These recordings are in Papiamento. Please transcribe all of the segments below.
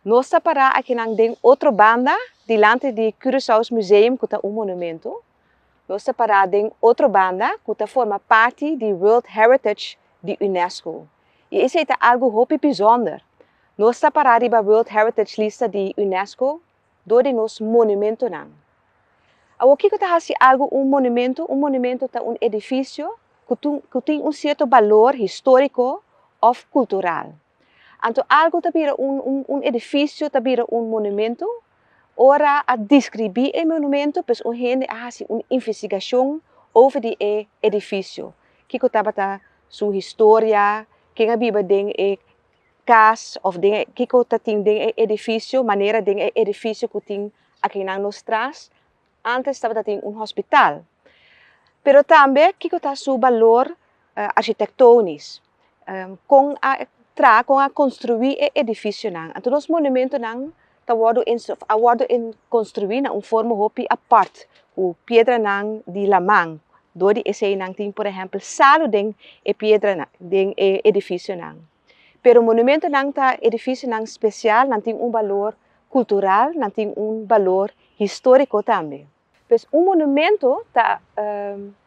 Nos ta pará akinan den otro banda, dilanti di Curaçao's Museum ku ta un monumentu. Nos ta pará den otro banda ku ta forma parti di World Heritage di Unesco. I esei ta algu hopi bisonder. Nos ta pará riba World Heritage lista di Unesco dor di nos monumentunan. Awor kiko ta hasi algu un monumentu? Un monumentu ta un edifisio ku tin un sierto balor históriko òf kultural. Anto algu ta bira un un un edifisio ta bira un monumentu ora a diskribí e monumentu pues un hende a hasi un investigashon over di e edifisio kiko tabata su historia ken a biba den e kas òf den e kiko ta tin den e edifisio manera den e edifisio ku tin akenan nos tras ántes tabata tin un hospital pero tambe kiko ta su balor architektonis. kon a traha, kon a konstruí e edifisionan. Anto nos monumentonan ta wòrdu a wòrdu konstruí na un forma hopi apart, ku piedranan di laman, dor di eseinan tin por ehèmpel salu den e piedranan den e edifisionan. Pero monumentonan ta edifisionan spesial, nan tin un balor kultural, nan tin un balor históriko tambe. Pues un monumento ta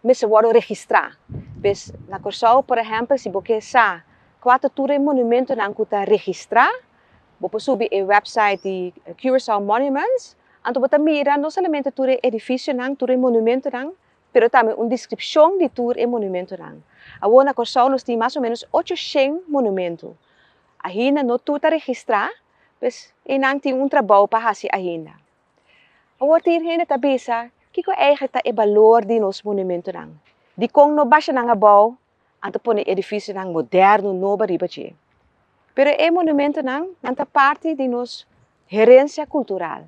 mester wòrdu registrá. Pues na Kòrsou por ehèmpel si bo ke sa kua ta tur e monumentonan ku ta registrá, bo por subi e wèpsait di Curaçao Monuments, anto bo ta mira no solamente tur e edifisionan, tur e monumentonan, pero tambe un deskripshon di tur e monumentonan. Awor na Kòrsou nos tin mas o ménos ocho shen monumento. Ainda no tur ta registrá, pues einan tin un trabou pa hasi ainda. Awor ta yin hende ta bisa, Kiko eihek ta e balor di nos monumentonan? Dikon no basha nan abou anto pone edifisionan moderno nobo riba dje? Pero e monumentonan, nan ta parti di nos herensia kultural.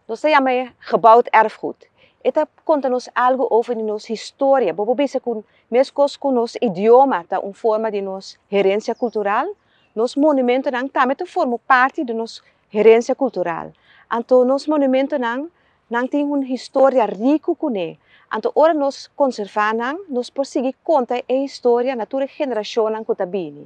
Nos ta yama e Gebouwd Erfgoed. E ta konta nos algu over di nos historia. Bo por bisa ku meskos ku nos idioma ta un forma di nos herensia kultural, nos monumentonan tambe ta forma parti di nos Herencia cultural, anto nos monumentonan nan tin un historia ricu cune, anto ora nos conserva nan nos por sigui conta e historia na tur e generacionnan cu ta bini.